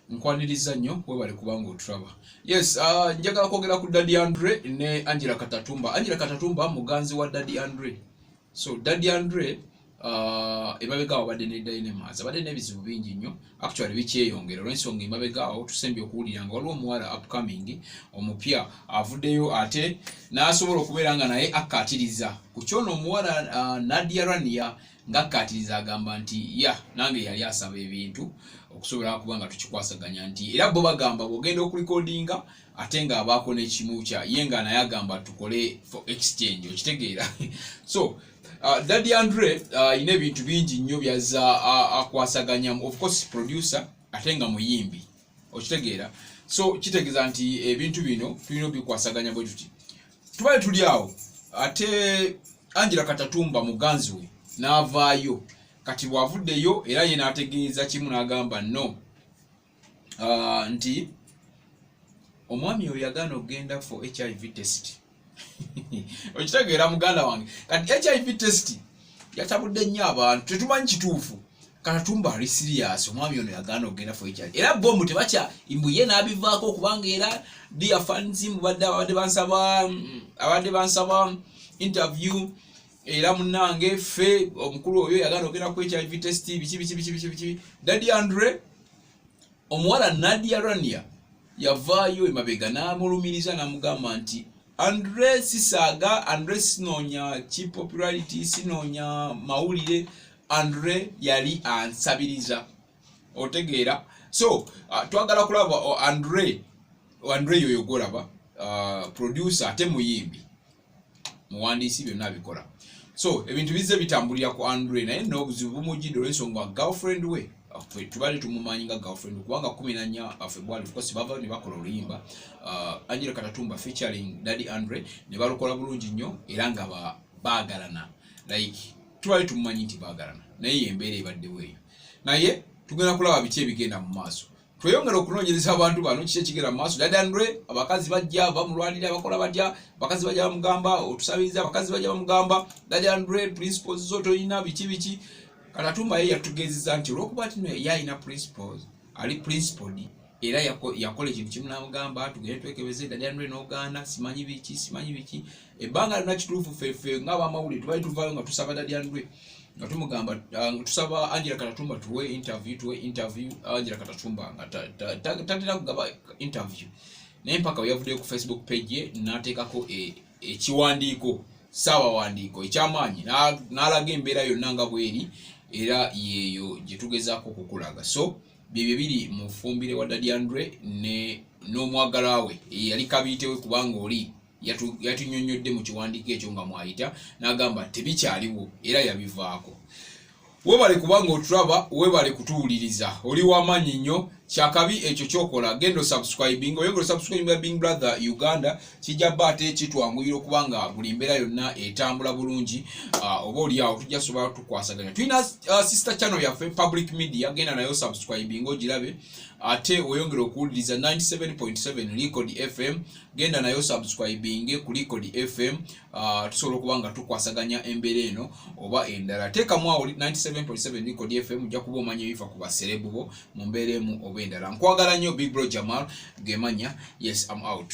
nkwaniriza nnyo webale kubanga otulaba yes uh, njagala kwogera ku daddy andre ne angela katatumba angela katatumba muganzi wa daddy andre so daddy andre uh, ebabega wabadde ne dynamas abadde n'ebizibu bingi nnyo actually bikyeyongera olwensonga emabega awo tusembye okuwulira nga waliwo omuwala upcoming omupya avuddeyo ate n'asobola okubeera nga naye akkaatiriza ku kyono omuwala uh, nadia rania ngakkaatiriza agamba nti ya nange yali asaba ebintu okusobola kuba nga tukikwasaganya nti era bo bagamba bwogenda okulikodinga ate nga abaako n'ekimu kya ye nga naye agamba tukole for exchange okitegeera so Uh, Daddy Andre uh, ine ebintu bingi nnyo byaza uh, akwasaganyamu uh, of course producer ate nga muyimbi okitegeera so kitegeeza nti ebintu bino tulina obikwasaganya bwe tuti tubale tuli awo ate Angela Katatumba muganzi we n'avaayo kati bw'avuddeyo era ye n'ategeeza kimu n'agamba no uh, nti omwami oyo yagaana okugenda for hiv test okitegeera muganda wange kati hiv test yatabudde nnyo abantu tetumanyi kituufu kanatumba ali sirias omwami ono yagaana okugenda for hiv era bomu tebakya mbuye n'abivaako okubanga era dia fanzi mubadde abadde bansaba abadde bansaba interview era munange ffe omukulu oyo yagana ogenda ku hiv test biki biki biki biki biki dadi andre omuwala nadia rania yavaayo emabega n'amulumiriza n'amugamba nti andre sisaaga andre sinoonya ki popularity sinoonya mawulire andre yali ansabiriza otegeera so uh, twagala kulaba uh, andre andre yoyo gwolaba uh, producer ate muyimbi muwandiisi byonna abikola so ebintu bizze bitambulira ku andre naye nobuzibu bumujidde olwensonga girlfriend we tubali tumumanyi nga girlfriend kubanga kumi nanya uh, february ofcourse bava ne bakola oluyimba uh, angela katatumba featuring daddy andre ne balukola bulungi nnyo era nga baagalana like tubali tumumanyi nti baagalana naye yembeera ebaddewo eyo naye tugenda kulaba biki ebigenda mu maaso tweyongera okunoonyereza abantu bano kiki ekigera mu maaso dadanre abakazi bajja bamulwanira abakola batya abakazi bajja bamugamba otusabiriza abakazi bajja bamugamba dadanre principles zo tolina biki biki kalatumba ye yatugezeza nti olwokuba tino ye alina principles ali principled era yakola ekintu kimu namugamba tugende twekebeze dadanre nogaana simanyi biki simanyi biki ebbanga lina kituufu fefe nga abamawulire tubali tuvayo nga tusaba dadyanlwe nga tumugamba ah, tusaba angela katatumba tuwe interview tuwe interview angela katatumba nga tatera kugaba interview naye mpaka weyavuddeyo ku facebook page ye nateekako e, ekiwandiiko saawawandiiko ekyamaanyi n'alaga embeera yonna nga bweri era yeeyo gye tugezaako okukulaga so byebyo biri mu fumbire wa dadyanlwe n'omwagala we eyali kabiitewe kubanga oli yatunyonyodde mu kiwandiiko ekyo nga mwayita n'agamba tebikyaliwo era yabivaako webale kubanga otulaba webale kutuwuliriza oli wamaanyi nnyo kyakabi ekyo kyokola genda osubscribing oyongera osubscribinga bing brother uganda kijja ba ate kitwanguyira okuba nga buli mbeera yonna etambula bulungi ah, oba oli awo tujja sobola tukwasaganya tulina ah, sister channel yaffe public media genda nayo subscribing ogirabe ate oyongera okuwuliriza 97.7 record fm genda nayo subscribinge ku licord fm uh, tusobola okuba nga tukwasaganya embeera eno oba endala teekamu awo 97.7 licord fm ojja kuba omanya ebifa ku baserebu bo mu mbeera emu oba endala nkwagala nnyo big bro jamal gemanya yes am out